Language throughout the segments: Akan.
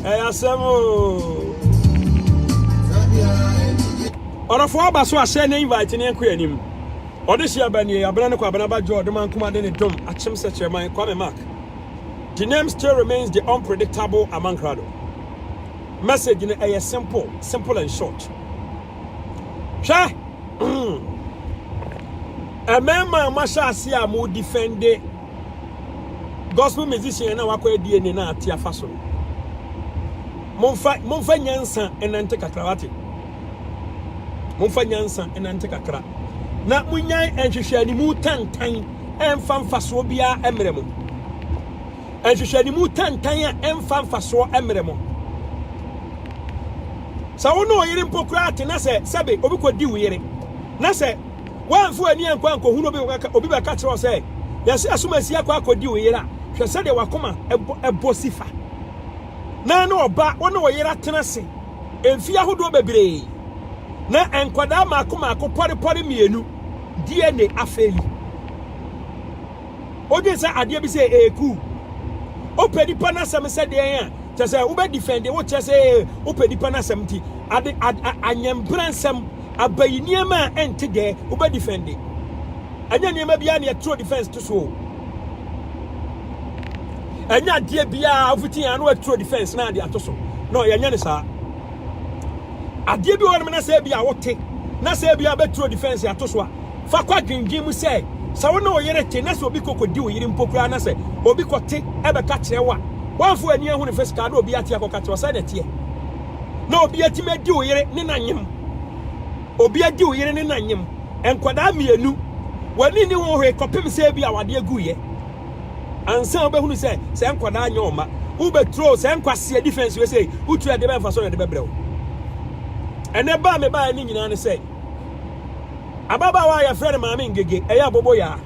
ɛyɛ asɛm ɔdɔfoɔ aba so ahyɛ ne invite ne nkɔ anim ɔde hyɛ aba nie abena ne kɔ abena ba jɔ ɔdoma nkoma de ne dom akyem sɛ kyerɛman kwame mark the name still remains the unpredictable amankrado message no ɛyɛ simple simple and short hwɛ ɛmɛɛma a mahyɛ ase a mo defende gospel musician a na wakɔ adie ne na ate afa so no momfa momfa nyansa ɛnante kakra wate momfa nyansa ɛnante kakra na munyan nhwehwɛ animu tantan ɛmfa mfasoɔ biara ɛmmerɛ mo nhwehwɛ animu tantan a ɛmfa mfasoɔ ɛmmerɛ mo sɛ wo ne ɔyere mpo koraa te na sɛ sɛbe obi kɔdi wo yere na sɛ Woamfa w'ani ankɔ ankohunu obi wɔ ka obi bɛka kyerɛ wo sɛ yɛsɛ ɛsom asi akɔ akɔdi wo yera hwɛ sɛdeɛ wakoma ɛbɔ ɛbɔ sifa na ne ɔba wo ne wo yera tena se mfie ahodoɔ bebree na nkwadaa maako maako pɔre pɔre mmienu DNA afei yi odwen sɛ adeɛ bi sɛ ɛɛku wopɛ nipa no asɛm sɛ deɛn a kyɛ sɛ wobɛ defend wo kyɛ sɛ wopɛ nipa no asɛm nti ade anyɛmbrɛ nsɛm Abayi nneɛma a ɛnte dɛɛ wobɛ defende. Ɛnyɛ nneɛma biara na yɛtoro defense to so. Ɛnyɛ adeɛ biara wofiti yɛn ano aturo defense na adeɛ ato so. No, yɛnyɛ ne saa. Adeɛ bi wɔ hɔnom na sɛ ebi a wote na sɛ ebi a bɛturo defense ato so a fa kɔ adwendwen mu sɛ sɛ wo ne wo yere te na sɛ obi kɔkɔdi wo yere mpo koraa na sɛ obi kɔte ɛbɛka kyerɛ wo a wɔmfo ani ahunu fɛ sika na obi ate akɔka kyerɛ wo sɛ na ɛteɛ. na obi atumi adi wo yere ne n'anyem obi adi wo yere ne n'anyem nkwadaa mmienu w'ani ne ho hwee kɔpem sɛ bi a wade aguiɛ ansa wobɛhunu sɛ sɛ nkwadaa nyɛ ɔma wobɛturo sɛ nkwaseɛ defense wei sɛ wotu ɛde bɛmfa so na ɛde bɛbrɛ wo ɛnɛ baa me baa ne nyinaa ne sɛ ababaawa a yɛfrɛ no maame ngege ɛyɛ abobo yaa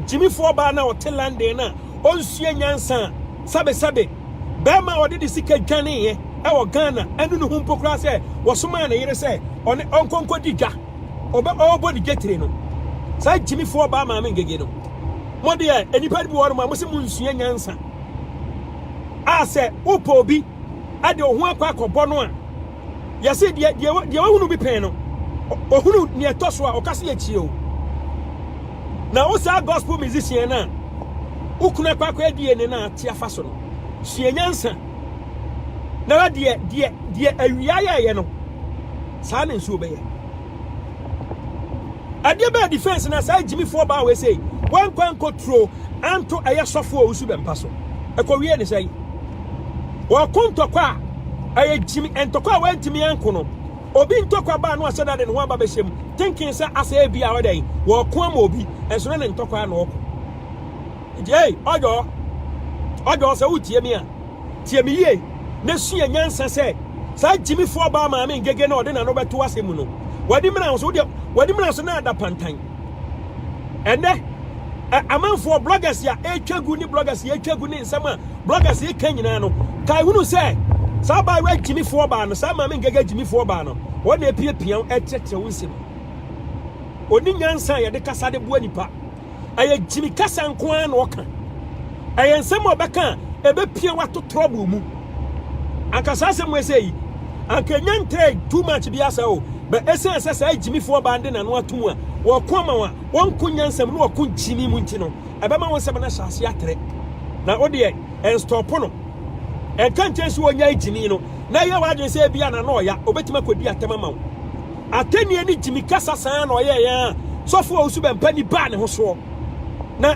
gyimifoɔ baa na ɔte london no a ɔnsua nyansa sabesabe Barima a ɔde ne sika dwaneeɛ wɔ Ghana anu ne ho mpo koraa sɛ wɔsomaa ne yere sɛ ɔne ɔnkɔ nkɔdi dwa. Ɔbɛ ɔrebɔ ne dwa tire no. Saa gyimifoɔ ɔbaa maame ngege no. Mo deɛ nnipa no bi wɔ hɔ nom a mo se mo nsua nyansa. A sɛ wopɛ obi de wo ho akɔ akɔbɔ no a yɛse deɛ deɛ deɛ wahunu bi pɛn no ohunu nea ɛtɔ so a ɔka se yɛtie o na wo saa gospel musician na wokuna kwakɔ adie ne na ate afa so no sua nyansa na wa deɛ deɛ deɛ awia yɛɛyɛ no saa ne nso bɛyɛ adeɛ bɛɛ defense na saa gyimifoɔ baa wei sei wankwa nkɔturo anto ɛyɛ sɔfoɔ a wosu bɛmpa so ɛkɔwie ne sɛ Ɔko ntɔkwa a ɛyɛ gyimi, ntɔkwa a wɔantumi anko no. Obi ntɔkwa baa no a sɛ dade ne ho aba bɛhyɛ mu. Thinking sɛ asɛ ebi a ɔdɛn, wɔko ama obi, ɛnso ne ne ntɔkwa na ɔko. Nti ei, ɔdɔ, ɔdɔ sɛ wotie me a, tie me yie na sua nyansa sɛ saa gyimifoɔ baa maame ngege na ɔde n'ano bɛto asɛm mu no, w'ani mmra nso, wodeɛ w'ani mmra nso na ada pantan. Ɛnnɛ, amanfoɔ, bloggers a ɛretwa gu ne bloggers a ɛretwa gu ne nsɛm a bloggers ɛreka nyinaa no, kae hunu sɛ saa abaayewa gyimifoɔ baa no, saa maame nkaga gyimifoɔ baa no, wɔn na apiapia wo ɛkyerɛkyerɛ wo nsɛm. Ɔni nyansa a yɛde kasa de boa nipa. Ɛyɛ gyimi kasa nko ara na ɔka. Ɛyɛ nsɛm a ɔbɛka a ɛbɛpia wato trɔbo mu. anka saa asɛm ɛsɛ yi anka ɛnya ntɛɛ too much bi asa o bɛ ɛsiane sɛ saa gyimifoɔ baa de n'ano ato mu a wɔko ama wa wɔnko nyansam ne wɔko gyimi mu nti no ɛbɛma wo nsɛm no ahyɛ ase atrɛ na wodeɛ ɛnstɔpo no ɛnka nkyɛn sɛ wɔnya gyimi no na ɛyɛ w'adwene sɛ ebi a na na ɔya obɛtumi akɔdi atɛm ama wo atɛnneɛ ne gyimi kasa saa na ɔyɛ yɛn a sɔfoɔ a wosu bɛmpa ni baa ne ho soɔ na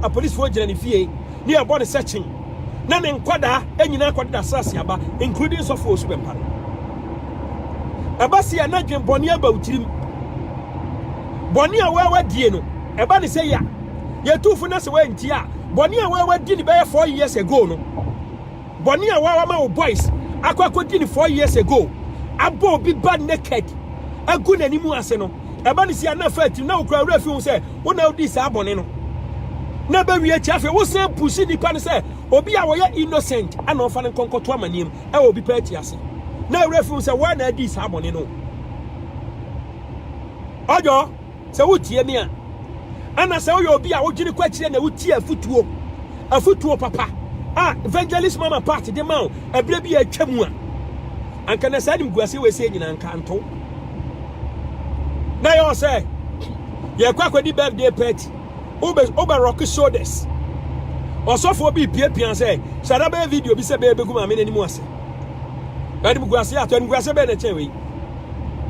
apolisifoɔ gyina ne fie ne ɛbɔ ne sɛkyen na ne nkwadaa nyinaa kɔdeda asase aba including sɔfo osu bɛmpa no ɛba se a na dwen bɔne aba wo tirim bɔne a wɔawa die no ɛba ne sɛ ya yɛtuufo na sɛ wɔanti a bɔne a wɔawa di ne bɛyɛ four years ago no bɔne a wɔawa ma wo boys akɔ akɔdi ne four years ago abɔ obi ba naked agu n'anim ase no ɛba ne si a na fa tirim na wokura werɛ fi ho sɛ wo na wodii saa bɔne no na ɛbɛwie akyi afei wosan pusi nnipa no sɛ obi a wɔyɛ innocent ana ɔfa no nkɔnkɔto amanneɛm ɛwɔ obi pɛ akyi ase na werɛ fi ho sɛ woa na adi saa bɔne no ɔdɔ sɛ wotie me a ana sɛ woyɛ obi a wodwene kɔ akyirɛ na wotie afotuo afotuo papa a evangelist mama part de ma wo ɛberɛ bi a atwa mu a anka na saa animguaseɛ wei sɛ nyina anka nto na yɛwɔ sɛ yɛkɔ akɔdi birthday party wobɛ rock shoulders ɔsɔfoɔ bi piapia sɛ sara bɛyɛ video bi sɛ bɛyɛ bɛgu maame no anim ase animguaseɛ ato animguaseɛ bɛyɛ na kyɛn wei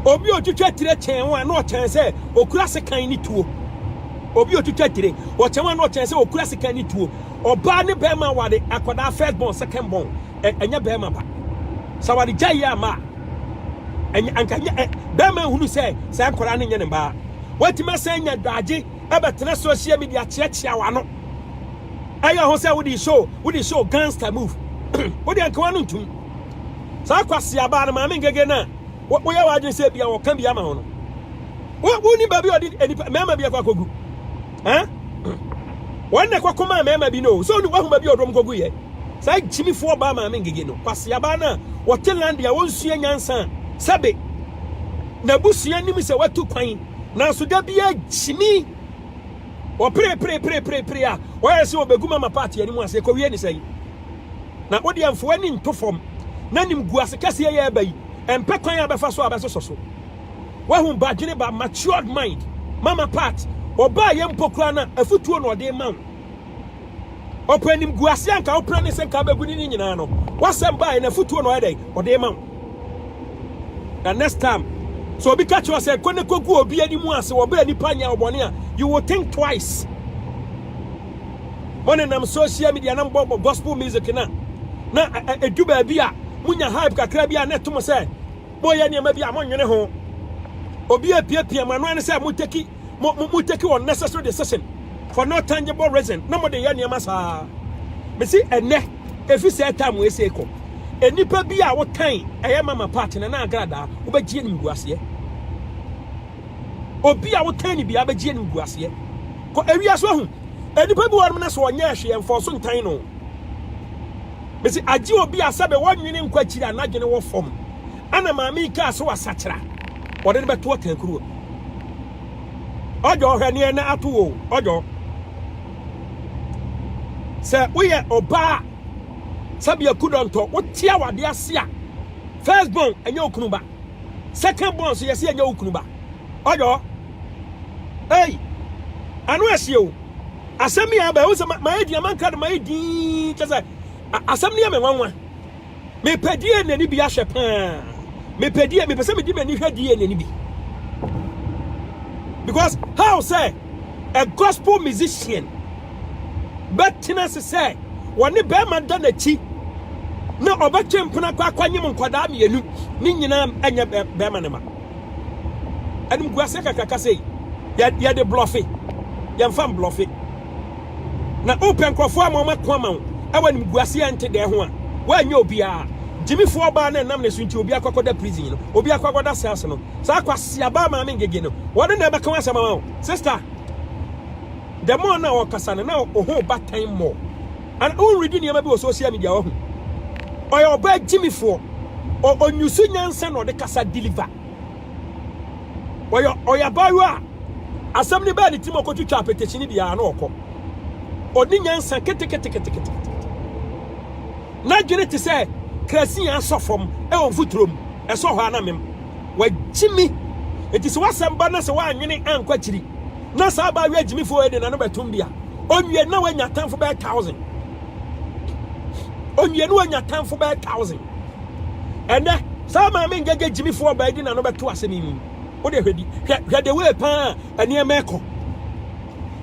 obi otwitwa tire kyɛn ho a na ɔkyɛn sɛ okura sekan ne tuo obi otwitwa tire ɔkyɛn ho a na ɔkyɛn sɛ okura sekan ne tuo ɔbaa ne bɛrima wade akwadaa first born second born ɛnyɛ bɛrima ba sɛ wɔde gya yɛ ama a ɛnyɛ anka nyɛ ɛ bɛrima hunu sɛ saa nkwadaa no nyɛ ne baa wɔatumi asɛn nya dwaagye ɛbɛtena social media kyeakyea wɔn ano ɛyɛ ho sɛ wode show wode show gangster move wode ankawa no ntum saa kwasi abaa no maame ngege no a woyɛ w'adwene sɛ bia wɔka bi ama ho no woni baabi a ɔde nipa mmarima bi akɔ akɔgu Eh? Wɔn na ɛkɔko maa mmarima bi no. So ne wahuma bi ɔdɔm kɔgu yɛ. Saa gyimifoɔ baa maame ngege no. Kwaseabaa no a wɔte lande a wɔnsua nyansa a sɛbe n'abusua nim sɛ watu kwan. Nanso da biara gyimi wɔpereperepereperepere a wɔyɛ sɛ wɔbɛgu mama paati anim ase ɛkɔwie ne sɛn. Na wodeɛ mfoɔ ani nto fam na nim gu ase kɛseɛ yɛ ɛba yi ɛmpɛ kwan a bɛfa so a bɛsosɔ so. Wahu badwene ba matured mind. Mama part ɔbaa yɛ mpo koraa na afutuo na ɔde ma wo. Ɔpɛ animguase anka wopra ne sɛ nka bɛgu ne ne nyinaa no. Wasɛm baa yɛ na afutuo na ɔyɛ dɛn ɔde ma wo. Na next time sɛ obi ka kyerɛ sɛ kɔ ne kɔgu obi anim a sɛ wɔbɛɛ nipa nyɛ ɔbɔne a you will think twice. Mo nenam social media na mbɔ gospel music na na edu baabi a munya hype kakra bi a na ɛto mo sɛ Moyɛ nneɛma bi a monnwene ho. Obi apiapia mo ano ara ne sɛ mo take mo mo take unnecessary decision for no tangible reason na mo de yɛ nneɛma saa. Mesi ɛnɛ efi sɛ ɛtaa mo ese kɔ. Nnipa bi a wotan ɛyɛ mama part na na agradaa wobɛgye anim gu aseɛ. Obi a wotan ne bia bɛgye anim gu aseɛ. Kɔ ewia so ahu. Nnipa bi wɔnom na so ɔnyɛ ɛhwe ɛmfɔɔ so ntan no. Mese agye obi a sɛbe wɔnwene nkɔ akyiri a n'adwene wɔ fam. Ɛna maame yi kaa sɛ wasakyera. Wɔde no bɛto ɔtankuruwa mu. Ɔdɔ hwɛ neɛ na ato wo ɔdɔ. Sɛ woyɛ ɔbaa sɛbea kudɔntɔ wote awade ase a first born ɛnyɛ wo kunu ba second born so yɛse ɛnyɛ wo kunu ba ɔdɔ ei ano ɛhyeɛ o. asɛm yi aba ɛho sɛ mayɛ din amanka no mayɛ din kyɛ sɛ asɛm no yɛ me nwanwa mepɛ die na ani bi ahwɛ paa mepɛ die mepɛ sɛ mede m'ani hwɛ die na ani bi because how sɛ a gospel musician bɛtena se sɛ wɔne bɛrima da n'akyi na ɔbɛtwe mpena kɔ akɔnyem nkwadaa mmienu ne nyinaa ɛnyɛ bɛrima ne ma Animguaseɛ kakraka sei yɛ yɛde blɔfe yɛmfa mblɔfe na wopɛ nkurɔfoɔ ama wɔn ako ama wo ɛwɔ animguaseɛ nte dɛɛ ho a woanyɛ obiara gyimifoɔ ɔbaa no ɛnam ne so nti obi akɔkɔda prison no obi akɔkɔda cells no saa kwaseaba maame ngege no wɔne na ɛbɛka wɔn asɛm ama wo sister the more na ɔkasa no na ɔho ba time more And wo readi nneɛma bi wɔ social media wahu. Ɔyɛ ɔbaa gyimifoɔ. Ɔnyusu nyansa na ɔde kasa deliver. Ɔyɛ ɔyɛ abaayewa a asɛm no bɛɛ ne tirim ɔkɔtwitwa apɛtɛkyini biara na ɔkɔ. Ɔde nyansa keteketekete. N'adwene te sɛ krasin a asɔ fam ɛwɔ mfuturo mu. Ɛsɔ hɔ a na mem. Wagyimi. Eti sɛ wasɛm ba na sɛ wanwene ankɔ akyiri. na saa abaayewa agyimifoɔ yɛ de n'ano bɛtom deɛ a ɔnwie na wanya atamfo bɛyɛ thousand ɔnwie na wanya atamfo bɛyɛ thousand ɛnɛ saa maame ngɛgɛ gyimifoɔ ɔbaa di n'ano bɛto asɛm yi mu wode hwɛ di hwɛ hwɛ de wei paa nneɛma ɛkɔ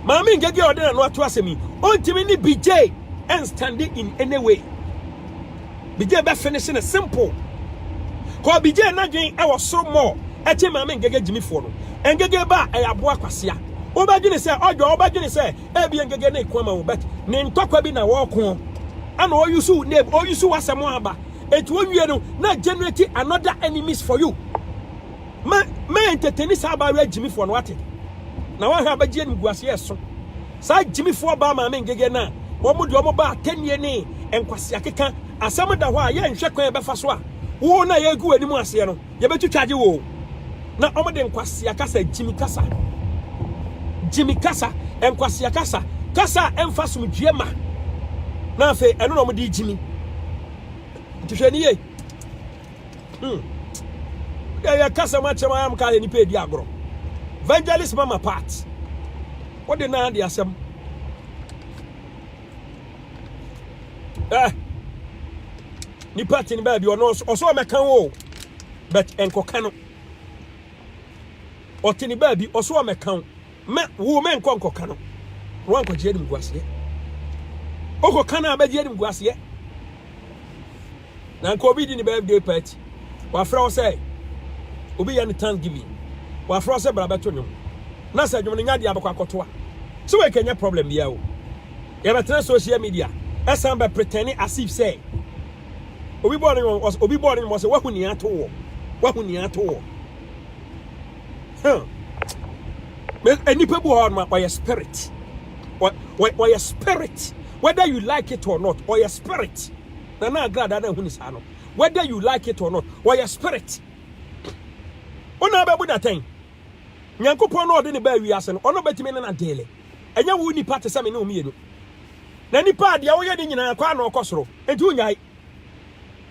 maame ngɛgɛ ɔde n'ano ato asɛm yi ɔntumi ne bigye ɛnstande in any way Bigye bɛ finish no simple Kɔ Bigye n'adwen ɛwɔ soro more ɛkyen maame Ngege Gyimi foɔ no Ngege ba a ɛyɛ aboa kwasea Wobɛdwene sɛ ɔdwɔ wobɛdwene sɛ ɛbia Ngege ne ko ama wo but ne ntɔkwa bi na wɔɔko ɛna ɔyusu wo name ɔyusu w'asɛm aba ɛti owie no na generate another enemies for you ma ma entertain saa abaayewa Gyimi foɔ no wate na wahwɛ abɛgye animguaseɛ ɛso Saa gyimifoɔ baa maame ngege no a wɔn deɛ wɔn ba atɛnnie ne nkwasea keka asɛm da hɔ a yɛ nhwɛ kwan a yɛbɛfa so a wo no a yɛregu w'anim aseɛ no yɛbɛtwitwagye wo na wɔn de nkwasea kasa gyimi kasa gyimi kasa nkwasea kasa kasa a ɛmfa somdwie ma na afei ɛno na wɔn de gyimi nti hwɛ ni yie Hmm. Wode yɛ kasa ma kyɛm ayam ka yɛ nipa edi agorɔ. Evangelist mama part. Wode na ade asɛm. Eh. Nipa tin ba bi ɔno ɔso ɔmɛka wo. But enkoka no. Ɔtene ba bi ɔso ɔmɛka wo. Me wo me nkɔ nkɔka no. Wan kɔ gye anim guaseɛ. Okɔ kana abɛgye anim guaseɛ. na nka obi di ne birthday party wafrɛ wo sɛ obi yɛ ne thanksgiving wafrɛ wo sɛ bra bɛto nnwom na sɛ dwom no nya deɛ abɛkɔ akɔtoa so wei kɛnyɛ problem biara o yɛbɛtena social media ɛsan bɛ pretend as if sɛ obi bɔɔ ne nwom obi bɔɔ ne nwom sɛ wahu nea ato wɔ wahu nea ato wɔ hmm nnipa bi wɔ hɔ ma ɔyɛ spirit ɔyɛ spirit whether you like it or not ɔyɛ spirit na na agrada na ɛho ni saa no whether you like it or not wɔyɛ spirit wona bɛbu datɛn nyankopɔn na ɔde ne baa wiase no ɔno bɛtumi ne na deele ɛnyɛ wo nipa te sɛ me ne wo mmienu na nipa a deɛ woyɛ ne nyinaa kɔ ana ɔkɔ soro nti wonyae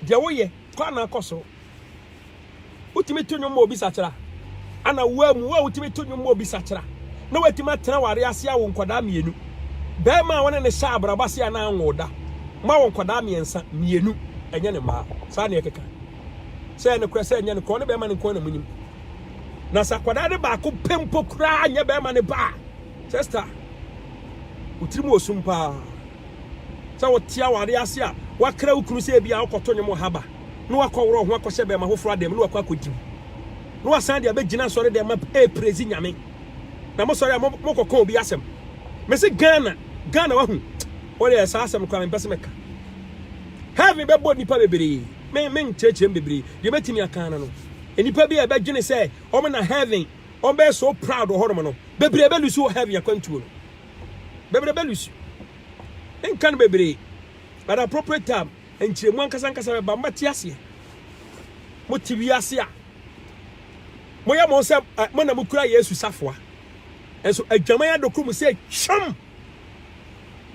deɛ woyɛ kɔ ana ɔkɔ soro Wotumi to nnwom ma obi sakyera? Ana wo amu wo a wotumi to nnwom ma obi sakyera na woatumi atena aware ase awo nkwadaa mmienu? Barima a wo ne no hyɛ abrabɔ ase a na anwo da, moawo nkwadaa mmiɛnsa, mmienu, ɛnyɛ ne mmaa. Saa na ɛkeka. Sɛ ɛyɛ nokorɛ, sɛ ɛnyɛ nokorɛ, ɔne barima no nko ara na monim. Na sɛ akwadaa no baako pɛ mpo koraa nyɛ barima no ba a, Chester, wo tirim wɔ sum paa. Sɛ wote aware ase a, woakra wo kunu sɛ ebia wokɔto nnwom wɔ ha ba, na woakɔworɔw ho akɔhyɛ bɛmma foforo adan mu na woakɔ akodi mu, na woasan de abegyina asɔredan mu apraise Nyame, na mosɔre a mokɔka obi asɛm. Mese Ghana, Ghana wahu? Wodeɛ saa asɛm no koraa mempɛ sɛ meka. Heaven bɛbɔ nnipa bebree, me menkyerɛkyerɛ mu bebree, deɛ mɛtumi aka ara no, nnipa bi a ɛbɛdwene sɛ wɔn na heaven, wɔbɛyɛ so proud wɔ hɔnom no, bebree bɛlusu wɔ heaven akwantuo no. Bebrebe lusu. Nka no bebree. But appropriate time, nkyerɛmu ankasa ankasa bɛba. Mobɛte aseɛ. Mote wiase a moyɛ mo sɛ eh, mo na mokura Yesu safoa. Nso adwaman adokoro mu sɛ twam.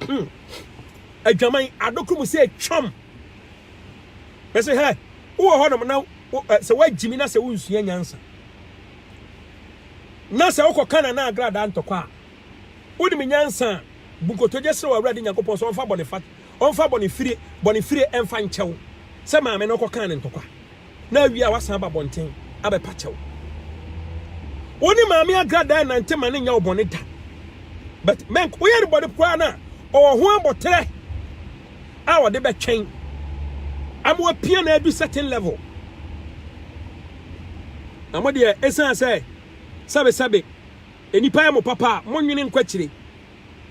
Hmm. Adwaman adokoro mu sɛ twam. Bɛsɛ hɛ, wowɔ hɔnom na eh, sɛ woagyimi na sɛ wonsua nyansa. Na sɛ wokɔ Canaan agradaa ntɔkwa a, Wonim nyansa a, bu nkotodwe srɛ w'Awurade Nyankopɔn sɛ ɔmfa bɔne fa, ɔmfa bɔne fire, bɔne fire mfa nkyɛ wo sɛ maame no kɔkaa no ntɔkwa na awie a wasan aba abɔnten abɛpa kyɛw. Wo ne maame agradaa nnante ma no nyɛ wo bɔne da. But mɛnk, woyɛ no bɔne koraa no a, ɔwɔ ho aboterɛ a ɔde bɛtwɛn ama wapia na adu certain level. Na mo deɛ, ɛsiane sɛ sɛbesɛbe Nnipa yɛ mo papa a, monnwene nkɔ akyire,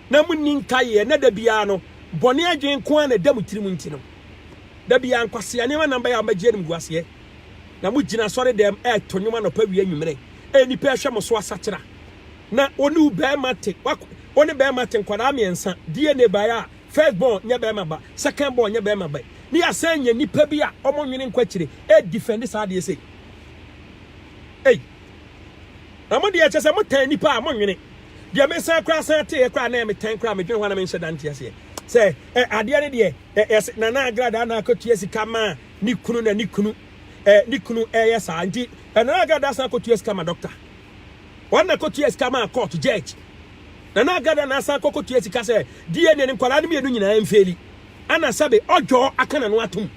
na monni nkaeɛ, na da biara no, bɔne adwene nko ara na ɛda mo tirim nti no, da biara nkwasea nneɛma nnan bɛyɛ a mobɛgye animguaseɛ, na mogyina asɔredan mu reto nnwom anɔpa awia anwummerɛ, a nnipa rehwɛ mo so asakyera, na wo ne wo barima te, w'ak, wo ne barima te, nkwadaa mmiɛnsa, DNA baeɛ a, first born nyɛ barima ba, second born nyɛ barima ba, ne yɛasan anya nnipa bi a wɔnnwene nkɔ akyire, ɛredefɛnde saa adeɛ sei. Ei! Na mo deɛ kyɛ sɛ mo tan nipa a mo nwene deɛ me san koraa san teeɛ koraa na me tan koraa me dwene ho ana me nhyɛ da nte aseɛ sɛ ɛ adeɛ ne deɛ ɛ yɛsɛ nana agradaa na akɔtua sika ma ne kunu na ne kunu ɛ ne kunu ɛyɛ saa nti ɛ nana agradaa san kɔtua sika ma dɔkta wɔn na kɔtua sika ma court judge nana agradaa na asan kɔkɔtua sika sɛ deɛ ne nkwadaa no mmienu nyinaa mfeeli ana sɛbe ɔdwɔ aka na no atom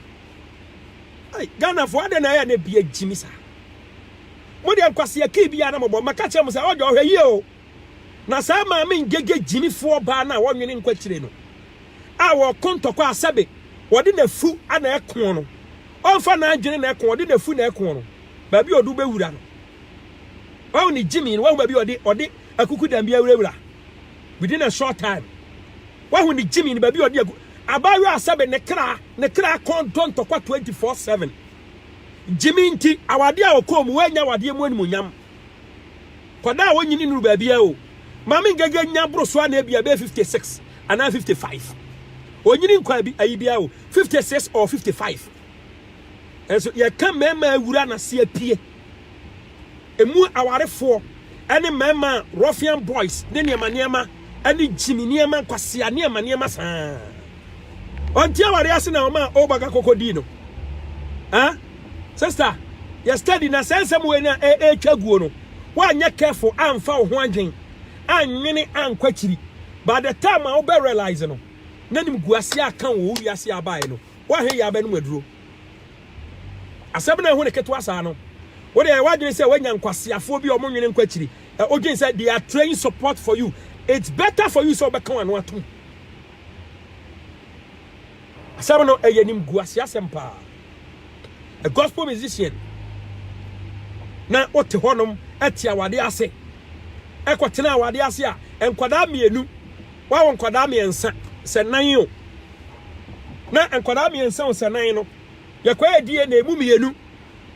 Ghana fo adɛ na ɛyɛ na bia gyimi saa Mo deɛ nkwasea kii biara na mobɔ. Mɛka akyerɛ mo sɛ, Ɔɔdwa, ɔhwɛ yie o! Na saa maame ngege gyinifoɔ baa no a wɔnwene nkɔ akyire no, a wɔko ntɔkwa a sɛbe wɔde n'afu na ɛko no, ɔmfa n'adwene na ɛko, ɔde n'afu na ɛko no, baabi a ɔde wo bɛwura no. Wahu ne gyimii no, wahu baabi a ɔde, ɔde akukudam bi awurawura, within a short time. Wahu ne gyimii no, baabi a ɔde agu, abaayewa a sɛbe ne kra, ne kra kɔn dɔ ntɔkwa 24/7. Gyimi nti awadeɛ a ɔkɔɔ mu wannya awadeɛ mu animuonyam. Kɔdaa a wɔnyini nnuru baabiara o. Maame Ngege nya boro so a na ebia ɛbɛyɛ 56 anaa 55. Ɔnyini nkɔɔ abi ayi biara o, 56 or 55. Nso yɛka mmarima awura na se apue. Emu awarefoɔ ne mmarima a ruffian boys ne nneɛma nneɛma ne gyimi nneɛma nkwasea nneɛma nneɛma saa. Ɔnte awareɛ ase na ɔma Obaga koko dii no. Eh? Sister, yɛ study na saa nsɛm wei na ɛretwa guo no, woanyɛ careful amfa wo ho adwen, anwene ankɔ akyiri. By the time a wobɛ realize no, na nimguaseɛ aka wo wɔ wo wiase a abaeɛ no, woahwɛ yei abɛnom aduro. Asɛm no a ɛho ne ketewa saa no, wo deɛ ɛyɛ w'adwene sɛ woanya nkwaseafoɔ bi a wɔnwene nkɔ akyiri. Ɛ odwene sɛ they are trained support for you. It's better for you sɛ wobɛka w'ano atom. Asɛm no ɛyɛ nimguaseɛ asɛm paa. A gospel musician na wote hɔnom ɛte awadeɛ ase ɛkɔtena awadeɛ ase a nkwadaa mmienu Wawo nkwadaa mmiɛnsa, sɛ nan o. Na nkwadaa mmiɛnsa o, sɛ nan no, yɛkɔyɛ DNA, emu mmienu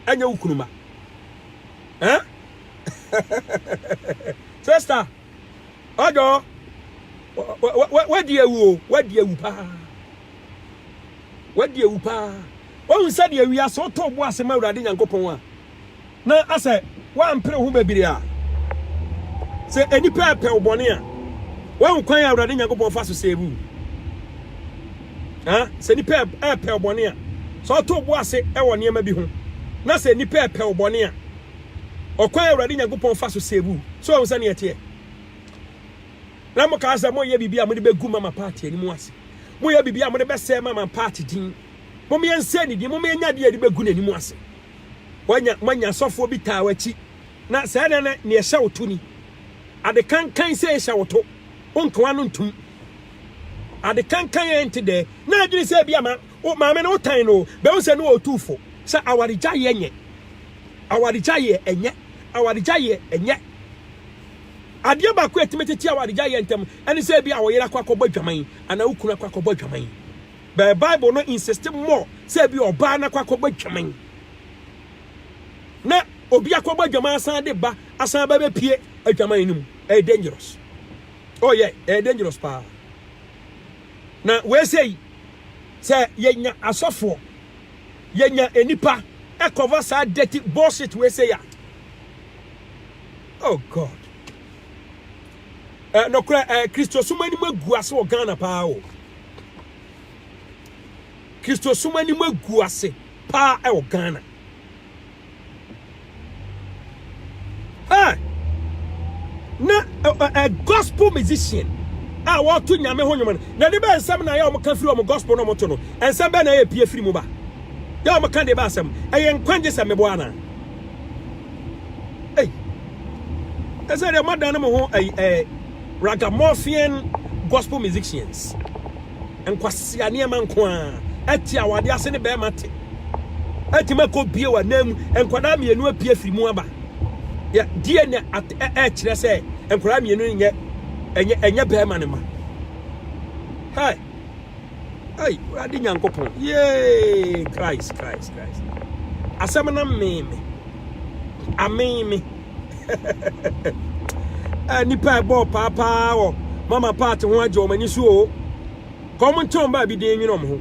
ɛnyɛ wo kunu ma. Eh? Sister, ɔdɔ, wadi awu o, wadi awu paa. Wadi awu paa. Ohun sɛ deɛ wiase wotɔ bo ase ma Awurade Nyankopɔn a. na asɛ woampere ho bebiree a, sɛ nnipa repɛ wo bɔne a, woahu kwan a Awurade Nyankopɔn fa so sɛ ebu wo? Ha, sɛ nnipa repɛ wo bɔne a, sɛ ɔto wo bo ase wɔ nneɛma bi ho, na sɛ nnipa repɛ wo bɔne a, ɔkwan a Awurade Nyankopɔn fa so sɛ ebu wo. So ɔhu sɛ ne ɛteɛ? Na mo kaa sɛ mo yɛ biribi a mo de bɛgu mama paati anim ase. Mo yɛ biribi a mo de bɛsɛɛ mama paati din. Mo mmea nsɛ ne din, mo mmea nya adeɛ a yɛde bɛgu n'anim ase. Woanya moanya sɔfoɔ bi taa w'akyi, na saa nna no nea ɛhyɛ wo to ni, Ade kankan sɛ ɛhyɛ wo to, wo nkoa no ntom. Ade kankan a ɛnte dɛ, na adwene sɛ ebi ama wo maame no wotan no o, bɛhu sɛ ne wɔ otuu fo, sɛ awaregyaeɛ nyɛ, awaregyaeɛ ɛnyɛ, awaregyaeɛ ɛnyɛ. Adeɛ baako a ɛtumi tete awaregyaeɛ ntɛm ɛne sɛ ebi a wo yere akɔ akɔbɔ adwaman, anaa wo kunu akɔ akɔbɔ adwaman. But Bible no insist more sɛ ebi ɔbaa no akɔ akɔbɔ adwaman na obi akɔbɔ adwaman asan de ba asan ba bɛpie adwaman no mu. Ɛyɛ dangerous. Oh yeah, ɛyɛ dangerous paa. Na wɔsɛ yi sɛ yɛnya asɔfoɔ yɛnya nnipa ɛkɔva saa dirty bullshit wɔsɛ yi a. Oh God. Eh, nokorɛ eh, Kristosom anim agu ase wɔ Ghana paa o. Kristosom anim agu ase paa ɛwɔ Ghana. Eh, na eh, eh, gospel musician a wɔto nyame ho nwom no, na de bɛ nsɛm na yɛ wɔn ka firi wɔn gospel na wɔn to no, nsɛm bɛ na yɛ pie firi mu ba. Yɛ wɔn ka de bɛ asɛm, ɛyɛ nkwagye sɛ meboa anaa? Ei! Ɛsɛ deɛ moadan no mo ho ɛyi ɛɛ ragamuffin gospel musicians. Nkwasia nneɛma nko ara. Ɛte a wɔade ase ne bɛrima te. Ɛtumi akɔ bie wɔ anan mu. Nkwadaa mmienu apue firi mu aba. Yɛ deɛ na ɛkyerɛ sɛ nkwadaa mmienu nyɛ ɛnyɛ ɛnyɛ bɛrima ne ma. Hey! ei wurade nyankopɔn yee christ christ christ asɛm no mee me amee me eh, nipa ɛbɔɔ paapaa wɔ mama part ho agye wɔn ani so o kɔn mo ntɔn baa bi den nwene wɔn ho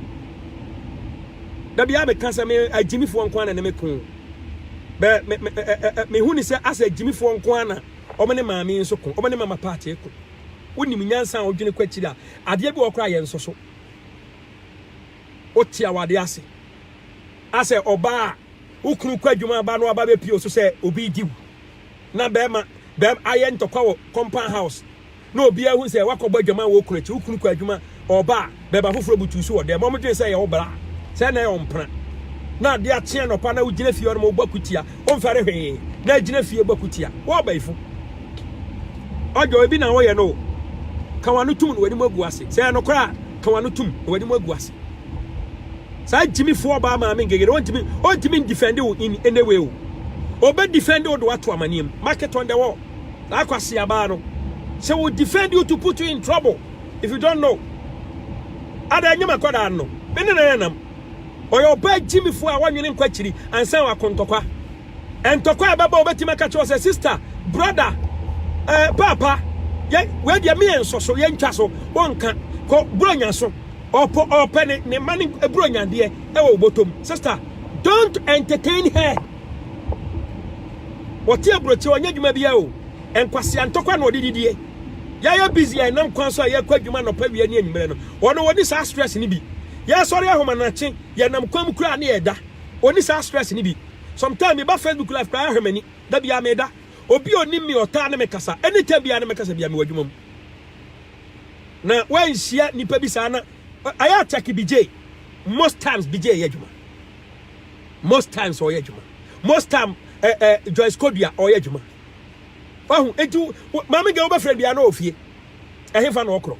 dabi a meka sɛ me agyimifoɔ nko ana ne me ko bɛ me me mehu ne sɛ asɛ agyimifoɔ nko ana wɔn ne maame nso ko wɔn ne mama part ko wonim nyansa a wodwene kɔ akyiri a Adeɛ bi wɔ hɔ koraa a yɛnsɔ so. Wote awadeɛ ase a sɛ ɔbaa a wo kunu kɔ adwuma aba no aba bɛpie wo so sɛ obi redi wo na bɛrima bɛrima ayɛ ntɔkwa wɔ compound house na obiara hu sɛ wakɔbɔ adwaman wɔ wo kunu akyi wo kunu kɔ adwuma ɔba a bɛrima foforɔ butu so wɔ dɛm wɔn dwene sɛ ɛyɛ wo bra sɛ na ɛyɛ ɔmpena na adeɛ akye anɔpa na wogyina fie hɔ no ma wobɔ akutia Womfɛre hwee na gyina fie bɔ kutia. Wo ɔbayifo. Ɔdwo ebi na woyɛ no o. Ka w'ano tom na w'anim agu ase. Sɛ ɛyɛ nokorɛ a, ka w'ano tom na w'anim agu ase. Saa gyimifo ɔbaa maame ngegere ɔntumi ɔntumi ndifɛnde wo in any way o. Ɔbɛ difɛnde wo de w'ato amaneɛ mu. Mark it on the wall. Saa akwasia baa no. Sɛ wɔ difɛnde you to put you in trouble. If you don't know. Ada nyem akwadaa no. Me ne no yɛ nam. Ɔyɛ ɔbaa gyimifo a wannwene nkɔ akyiri ansa wako ntɔkwa. Ntɔkwa a ɛbɛba a obetumi aka kyerɛ wo sɛ, Sista, brɔda, eh, paapa, yɛ, wei deɛ me yɛnsɔ so, yɛntwa so, wonka, kɔ Buronya so. Ɔpɔ, ɔpɛ ne, ne mma ne Buronyadeɛ ɛwɔ wo bɔtɔm. Sista, don't entertain her. Ɔte aburokyi, ɔnyɛ adwuma biara o. Nkwasea ntɔkwa na ɔde didie. Yɛayɛ busy a ɛnam kwan so a yɛkɔ adwuma anɔpa, awia ne anwummerɛ no. Wɔn no wɔni saa stress no bi. Yɛsɔre ahomanakye, yɛnam kwan mu koraa ne yɛda. Wɔni saa stress no bi. Sometime meba Facebook live koraa ahwɛ m'ani. Da biara meda. Obi a onim me ɔtaa ne me kasa. Anytime biara ne me kasa biara mewɔ adwuma mu. Na wanhyia nnipa bi saa na ayɛ attack Bijay. Most times Bijay yɛ adwuma. Most times ɔyɛ adwuma. Most time eh, eh, Joyce Kodua ɔyɛ adwuma. Wahu, enti maame gɛ wobɛfrɛ biara na ɔfie. Ɛhefa na ɔkorɔ.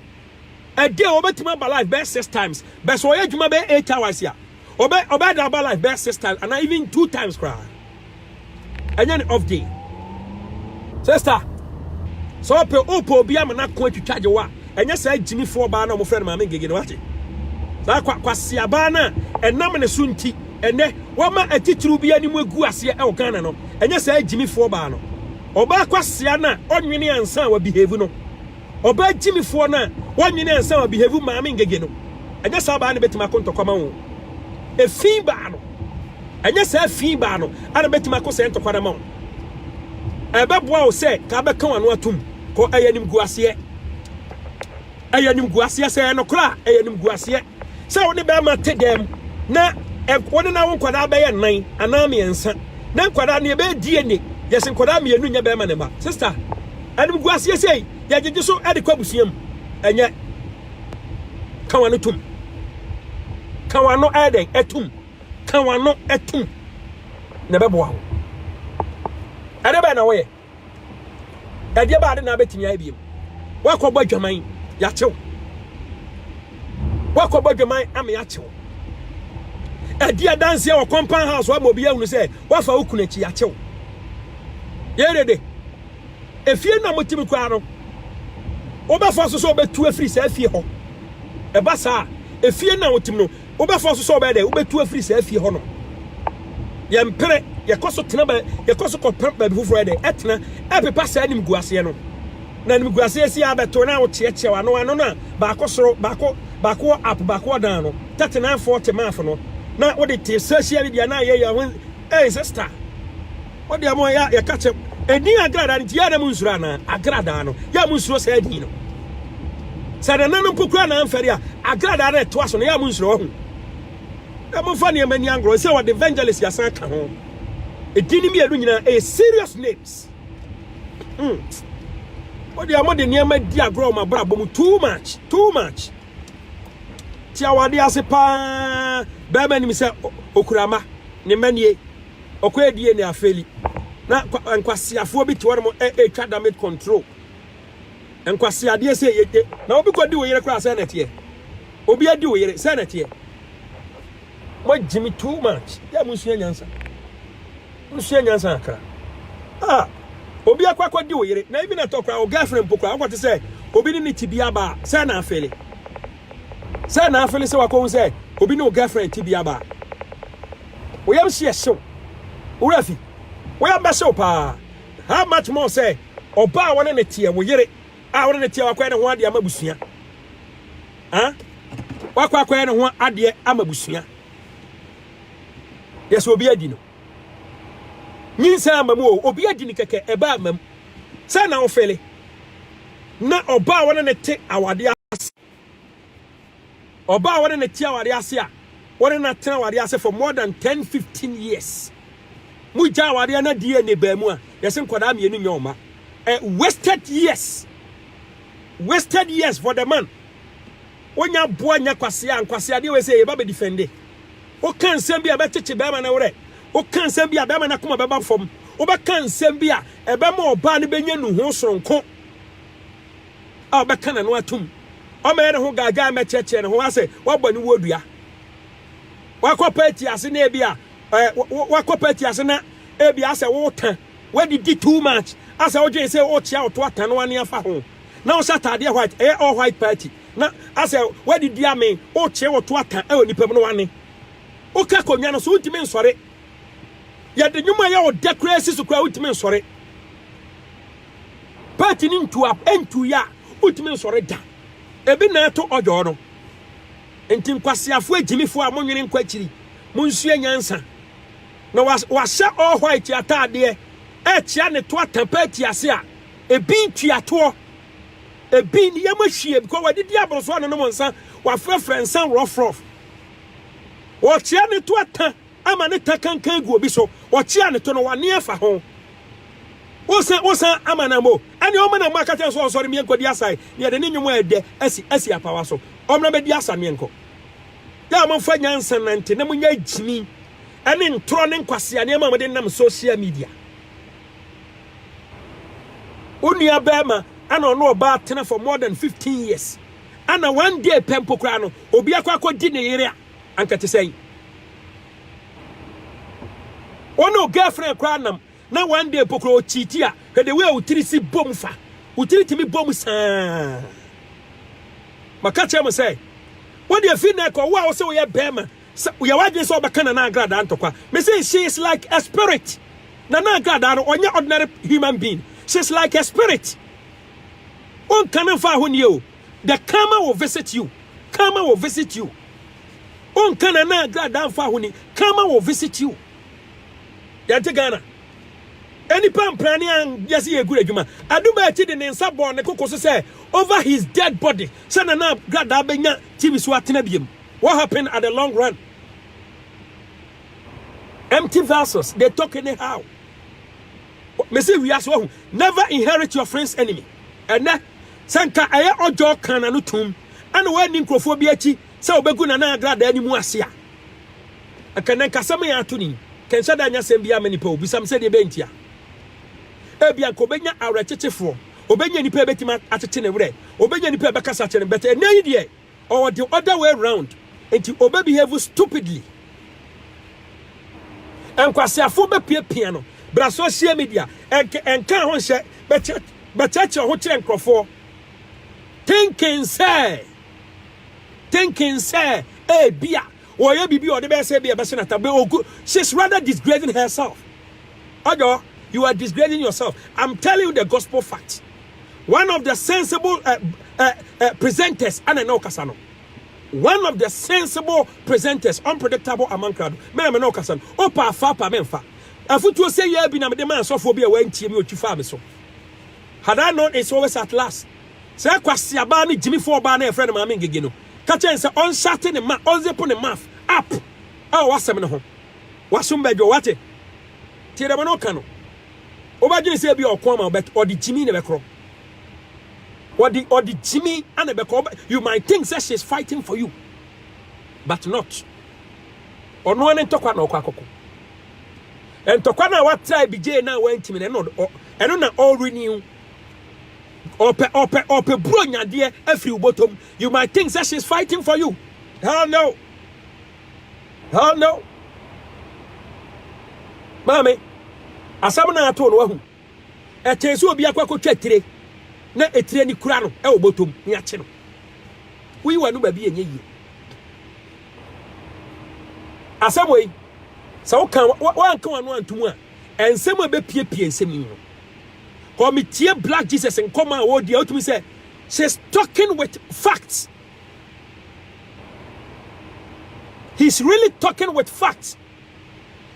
A day ɔbɛtumi aba life bɛyɛ six times but sɛ ɔyɛ adwuma bɛyɛ eight hours a ɔbɛ ɔbɛda aba life bɛyɛ six times ana even two times koraa ɛnyɛ ne off day sister sɛ ɔpɛ ɔpɛ obi ama no ako atwitwa gye wa ɛnyɛ saa gyimifoɔ baa na ɔmofrɛ no maame ngege no wate saa kwa kwasea baa no a ɛnam ne so nti ɛnɛ wama atitiriw bi anim agu aseɛ ɛwɔ ghana no ɛnyɛ saa gyimifoɔ baa no ɔbaa kwasea no a ɔnwene ansa wa behave no Ɔbaa gyimifoɔ no a wannwene ansa a ɔbehevu Maame Ngege no, ɛnyɛ saa ɔbaa no bɛtumi ako ntɔkwama ho. Efi baa no, ɛnyɛ saa efi baa no a na bɛtumi ako saa ntɔkwa no ama wo. Ɛbɛboa wo sɛ ka bɛka w'ano atom kɔ. Ɛyɛ animguaseɛ. Ɛyɛ animguaseɛ. Sɛ ɛyɛ nokorɛ a, ɛyɛ animguaseɛ. sɛ wo ne bɛrima te dɛm na wo ne na wo nkwadaa bɛyɛ nnan anaa mmiɛnsa na nkwadaa no yɛbɛyɛ DNA yɛsi nkwadaa mmienu nyɛ bɛrima ne mma sista ɛnum gu aseɛ sei yɛgyegye so ɛde kɔ abusua mu ɛnyɛ kawa no tum kawa no ɛyɛ dɛn ɛtum kawa no ɛtum na ɛbɛboa wo ɛde bɛn na wɔyɛ ɛdeɛ baa de na abɛtumi ayɛ biom woakɔbɔ adwaman yɛakyew woakɔbɔ adwaman ama yɛakyew ɛdi adanseɛ wɔ compound house ama obi ahunu sɛ woafa wo kunu akyi yɛakyew yɛdede efie no a motimi koraa no wobɛfa so sɛ wobɛtu afiri saa fie hɔ ɛba saa efie no a wotim no Wobɛfa nso sɛ wobɛyɛ dɛn? Wobɛtu afiri saa fie hɔnom. Yɛmpere, yɛkɔ so tena ba, yɛkɔ so kɔpɛ baabi foforɔ yɛ dɛn? Ɛtena, ɛpepa saa animguaseɛ no. Na animguaseɛ si ara bɛto na wokyeakyea w'ano, ano no a baako soro, baako, baako wɔ up, baako wɔ down no, thirty nine forty math no, na wode te social media na ayɛyɛ ho, ei sister. Mo deɛ mo yɛ yɛka kyɛ ɛdin agradaa no nti yɛ na mo nsuro anaa agradaa no yɛ mo nsuro saa ɛdin no sɛ nana no mpo kura na amfɛre a agradaa no ɛtoa so no yɛ mo nsuro ɔho na mo fa nneɛma ni angorɔ sɛ wɔde evangelist yasan ka ho ɛdin no mmienu nyinaa ɛyɛ serious names mm. mo deɛ mo de nneɛma di agorɔ ma brabɔ mu too much too much ti awade ase paa bɛrima nim sɛ okura ma ne mma nie Okoedie ne Afeli na nkwaseafoɔ bi te hɔ nom ɛretwa damage control. Nkwaseadeɛ sɛ yɛ yɛ na obi kɔ di wo yere koraa sɛ na ɛteɛ. Obi adi wo yere sɛ na ɛteɛ. Mo gyimi too much. Yɛ mo nsua nyansa. Mo nsua nyansa akra. Ah, obi akɔ akɔ di wo yere na even ɛtɔ koraa wo girlfriend mpo koraa wokɔ te sɛ obi ne ne ti bi aba sɛ na afeli. Sɛ na afe ne sɛ wakɔhu sɛ obi ne wo girlfriend ti bi aba a, wo yam hyeɛ hyew. Wo werɛ afi. Wo yam bɛhyew paa. How much more sɛ ɔbaa a wɔne ne teɛ, wo yere a wɔne ne teɛ wakɔyɛ ne ho adeɛ ama abusua. Ah? Wakɔ akɔyɛ ne ho adeɛ ama abusua. Deɛ sɛ obi adi no. Nyinsɛn ama mu o, obi adi no kɛkɛ, ɛbaa ama mu. Sɛ na wo fele. Ná ɔbaa a wɔne no te awadeɛ ase. Ɔbaa a wɔne no te awadeɛ ase a wɔne no atena awadeɛ ase for more than ten, fifteen years. Mogya awadeɛ na DNA baa mu a, yɛse nkwadaa mmienu nyɛ ɔma. Eh, wasted years. Wasted years for the man. Wonya boa nya kwasea, nkwaseadeɛ wei sɛ yɛba bɛ defende. Woka nsɛm bi a ɛbɛkyekye bɛrima no werɛ. Woka nsɛm bi a bɛrima no akoma bɛba fam. Wobɛka nsɛm bi a ɛbɛma ɔbaa no bɛnya nuho soronko a ɔbɛka n'ano atom. Ɔmmɛyɛ ne ho gaagyaa mmɛkyerɛkyerɛ ne ho asɛ woabɔ ne wuo dua. Wakɔ party ase na ebi a eh, wo- wo- wakɔ party ase na ebi asɛ wota. Woadidi too much asɛ wodwen sɛ wokyea ɔto atanoa ne afa ho. na ɔhyɛ ataadeɛ white ɛyɛ all white party na asɛ wadidi ame ɔkyeɛ wɔto ata ɛwɔ nipa mu no wane woka akonnwa no so wontumi nsɔre yɛde nnwom a yɛ ɔdɛ koraa si so koraa wontumi nsɔre party no ntu a ɛntu yɛ a wontumi nsɔre da ebi na ɛto ɔdwɔɔ no nti nkwaseafoɔ agyimifoɔ a monwene nkɔ akyiri monsua nyansa na wahyɛ all white ataadeɛ ɛkyea ne to ata party ase a Ebi ntua toɔ. Ebi ne yam ahwie because wadidi aboro so anonom nsa, wafrɛfrɛ nsa rɔfrɔf. Ɔkyea ne to ata ama ne ta kankan gu obi so. Ɔkyea ne to no w'ane afa ho. Wosan wosan ama na mo ɛne ɔma na mo akata nso ɔnsɔre mmea nkɔdi asae ne yɛde ne nnwom a ɛdɛ asi asi apawa so. Ɔmena bɛdi asa ne nkɔ. Yɛ a momfa nyansa nante na monyɛ gyimi ɛne ntorɔ ne nkwasea nneɛma a mode nam social media. Wo nua barima ana ɔno ɔbaa tena for more than 15 years ana one day pɛ mpo koraa no obi akɔ akɔdi ne yere a anka te sɛn wo ne wo girlfriend koraa nam na one day mpo koraa ɔkyiti a hwɛ de wei a wotiri si bom fa wotiri tumi bom saa maka kyerɛ mo sɛ wode afi na ɛkɔ wo a wo sɛ woyɛ barima Sɛ woyɛ w'adwene sɛ wobɛka Nana Agradaa ntɔkwa, mese she is like a spirit. Nana Agradaa no, ɔnyɛ ordinary human being. She is like a spirit. Wonka no mfa ahonneɛ o. The karma will visit you. Karma will visit you. Wonka Nana Agradaa mfa ahoni. Karma will visit you. Yɛnte Ghana. Enipa mpra ne an yɛsi yɛ gura adwuma. Aduma akyi de ne nsa bɔɔ ne koko so sɛ over his dead body sɛ Nana Agradaa bɛnya TV so atena biem. What happen at the long run? Empty vessels, they talk anyhow. Me say we as well. Never inherit your friend's enemy. And then, sanka eye ojo kan anu tum. Anu we ni nkrofo bi achi. Sɛ obegu na na agrada ani mu ase a. Ɛkɛnɛ nkasɛm yɛ ato ni. Kɛnhyɛ da anya sɛm bi ama nipa obisam sɛ deɛ bɛnti a. Ebia nka obɛnya awerɛkyekyefoɔ. Obɛnya nipa ebɛtumi akyekye ne werɛ. Obɛnya nipa ɛbɛkasa kyerɛ no. But ɛnɛ yi deɛ. or the other way round nti ɔbɛ behave stupidly. Nkwaseafo bɛ pia pia no bra social media ɛnke ɛnka ho nhyɛ bɛ kyɛ bɛ kyerɛkyerɛ ho kyerɛ nkorɔfoɔ thinking sɛ thinking sɛ ɛɛbia Ɔyɛ biribi a ɔde bɛyɛ sɛ ebia ɛbɛhyɛ no atam. Be ogu. She's rather disgracing herself. Ɔdɔ, you are disgracing yourself. I'm telling you the gospel fact. One of the sensible uh, uh, uh, presenters, ana na ɔkasa no. One of the sensible presenters, unpredictable among crowd. Mena mena ɔkasa no. Opa afa pa menfa. Afutuo sɛ yɛ bi na mede maa sɔfoɔ bi a wantie mi otwi faa me so. Had I known it's always at last. Sɛ Kwasiabaa ne Gyimifo ɔbaa no a yɛfrɛ no Maame Ngege no ka kyerɛ no sɛ ɔnhyate ne ma, ɔnzipo ne mouth up wɔ w'asɛm no ho, w'asom bɛdwo. Woate? Tie dɛm na ɔka no. Wobɛdwene sɛ ebia ɔko ama wo, ɔde gyimi na ɛbɛkorɔ. Ɔde ɔde gyimi na ɛbɛkɔ. You might think sɛ she's fighting for you, but not. Ɔno ara ne ntɔkwa na ɔkɔ akɔko. Ntɔkwa no a watra abigye no a wantumi no, ɛno na ɔrenew. Ope, ope, ope bro nyadeɛ afiri ubotom. You might think that she's fighting for you. Hell no. Hell no. Maame, asɛm na ato no wahu. Ɛkyɛn sɛ obi akɔ akɔtwa etire na etire ni kura no ɛwɔ botom ne akye no. Woyi w'ano baabi yɛ nyɛ yie. Asɛm wei, sɛ woka woanka w'ano antom a, ɛnsɛm a ɛbɛpiepie nsɛm yi no. Kɔ me tie black Jesus nkɔmɔ a ɔredi a wotumi sɛ she's talking with facts. He's really talking with facts.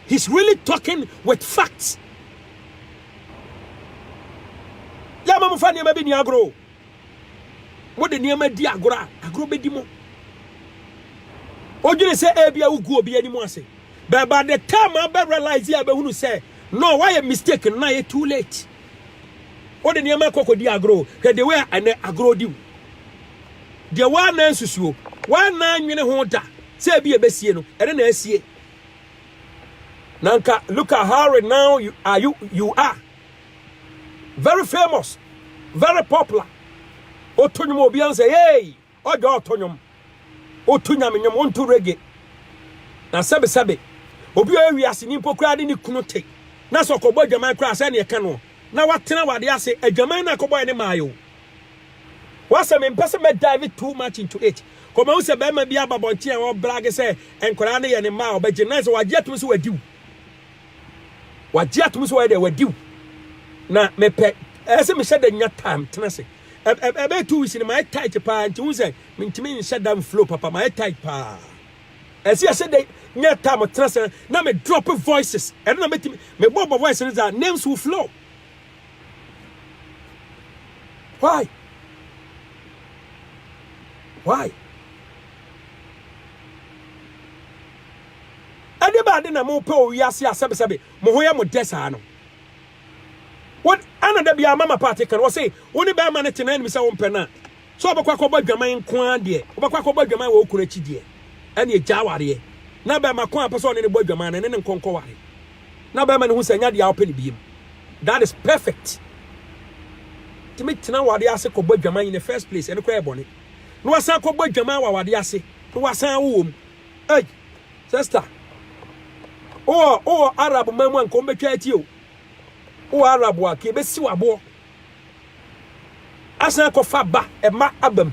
He's really talking with facts. Yɛ ama mo fa nneɛma bi ni agorɔ. Mo de nneɛma di agorɔ a agorɔ bɛdi mo. Odwene sɛ ebi a wogu obi anim ase. But by the time abɛ realize a bɛhunu sɛ No wayɛ mistake no na ayɛ too late wode nneɛma kɔ kɔdi agorɔ hwɛ de wei a ɛnɛ agorɔ di wo deɛ woana nsusuo woana nwene ho da sɛ ebi ɛbɛsie no ɛne na asie na nka look at how right now you are you, you are very famous very popular woto nwom obi ansɛ hey Ɔdɔ a ɔtɔ nnwom, ɔtu Nyame nnwom, ɔnto reggae. Na sɛbesɛbe, obi a ɔyɛ wiaseni mpo koraa de ne kunu te, na sɛ ɔkɔbɔ adwaman koraa a, sɛɛ na ɛka noɔ, na watena awadeɛ ase, adwaman no a ɛkɔbɔeɛ no maae o. W'asɛm, mempɛ sɛ mɛ dive too much into it, kɔ mahu sɛ barima bi aba abɔnten a ɔrebrage sɛ nkwadaa no yɛ ne mma a ɔbɛgye, na ɛsɛ wagye atom sɛ wadi wo. Wagye atom sɛ wayɛ dɛ, wadi wo. Na mepɛ, ɛsɛ mehyɛ da nya time tena ase. ɛbɛyɛ two weeks no mayɛ tight paa nti wohu sɛ mentumi nhyɛ da mflow papa mayɛ tight paa ɛsi ɛsɛ dɛ nya taa mo tena sɛ na me drop voices ɛno na mɛtumi mebɔ bɔ voice no dza names will flow why why ɛde baade na mopɛ owiase asɛbesɛbe mo ho yɛ mo dɛ saa no Wo ana da biara mama paate ka no ɔse wo ne bɛɛma no te na anim sɛ wo mpɛ no a sɛ ɔbɛkɔ akɔbɔ adwaman nko ara deɛ ɔbɛkɔ akɔbɔ adwaman wɔ wo kunu akyi deɛ ɛneɛ gyaa wareɛ na bɛɛma ko a pɛ sɛ ɔne no bɔ adwaman no ɛne no nkɔ nkɔ ware na bɛɛma no hu sɛ ɛnyɛ adeɛ a ɔpɛ no biem that is perfect tumi tena wadeɛ ase kɔbɔ adwaman in the first place ɛno koraa yɛ bɔne na wasan kɔbɔ adwaman wɔ awadeɛ ase na wasan awo wɔ mu Ei sister wowɔ wowɔ Arab man mu a nka wɔbɛtwa atie o. Wowɔ Arab a ka ebesi waboɔ. Asan akɔfa ba ɛma abam.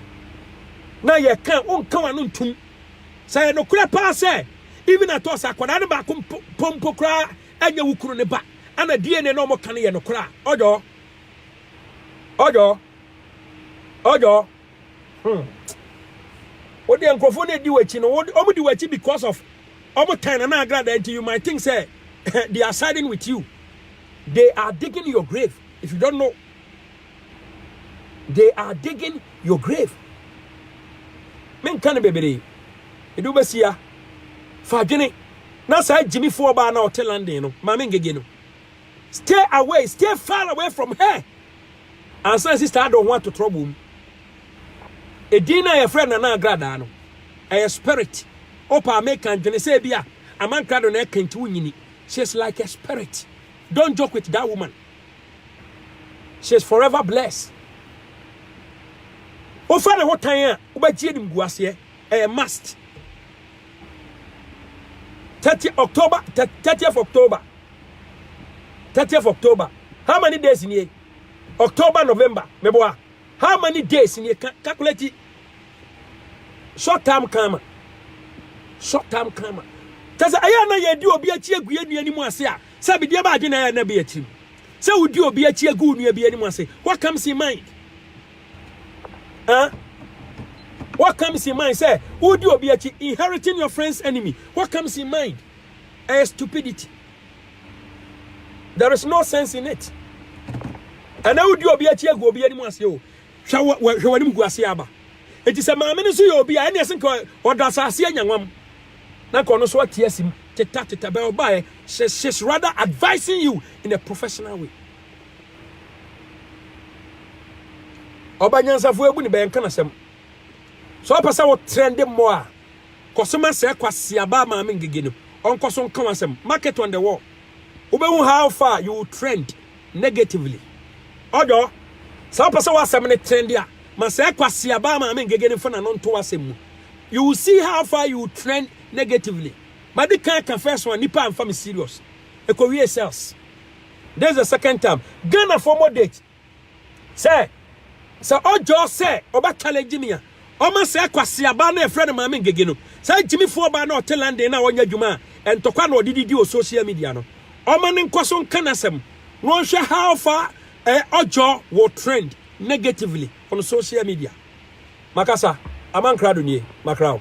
Na yɛka wonka w'ano ntom. Sɛ ɛyɛ nokorɛ paa sɛ even at all sɛ akwadaa no baako mpo mpo mpo koraa ɛnyɛ wo kunu ne ba ana DNA na wɔka no yɛ nokorɛ a ɔyɔ ɔyɔ ɔyɔ Hmm. Wo deɛ nkurɔfoɔ na ɛdi w'akyi no, wɔn di w'akyi because of wɔn tan na na agrada nti you might think say they are siding with you. They are digging your grave if you don't know. They are digging your grave. Men kan bebree. Edu besia. Fa adwene. Na saa gyimifoɔ baa na ɔte London no, maame ngege no. Stay away, stay far away from her ansa na sister adɔ ho ato trouble mu. Edin no a yɛfrɛ Nana Agradaa no, ɛyɛ spirit. Opa meka ndwene sɛ bi a amankrado na ɛka nti wonyini. She is like a spirit. Don't joke with that woman. She is forever blessed. Wofa ne ho tan a, wobɛgye animguaseɛ. Ɛyɛ must. Thirty October thirtieth October thirtieth October how many days nie October November meboa how many days nie calculate short term kama short term kama tẹsẹ ẹyẹ na yẹ di obi akyi egu yẹ nua ni mu ase a sẹ bi diẹ ba adwene ẹyẹ na bi atirim sẹ wodi obi akyi egu nua bi ni mu ase what comes in mind. Huh? What comes in mind? Say, Udi Obiachi, inheriting your friend's enemy. What comes in mind? A stupidity. There is no sense in it. And now Udi Obiachi agu obi anim ase o. Hwɛ w'anim gu ase aba. Enti sɛ maame no so yɛ obi a ɛne ɛsɛ nka ɔda asase anya nwam. Na nka ɔno so ate asim teta teta bɛ ɔbaeɛ. She's rather advising you in a professional way. ɔba nyansafo ebu ne bɛn ka n'asɛm sɛ ɔpɛ sɛ wotrɛn de mmɔ a kɔsoma sɛ kwaseaba maame ngege no ɔnkɔ so nka w'asɛm mark it on the wall wobɛhu how far you will trend negatively ɔdɔ sɛ ɔpɛ sɛ w'asɛm no trend a ma sɛ kwaseaba maame ngege no fa na no nto w'asɛm mu you will see how far you will trend negatively madi kan ka first one nipa amfa me serious ekowie sales This is the second time. Ghana for more date. Sir, sir, oh Joe, sir, oba challenge Jimmy. Oma sir, kwasi aba na friend of mine gege no. Sir, Jimmy for ba na hotel London na wanya juma. And to kwa no didi di o social media no. Oma ne nkwaso nkanasem. No one share how far eh, oh Joe will trend negatively on social media. Makasa, aman crowd nie, makrao.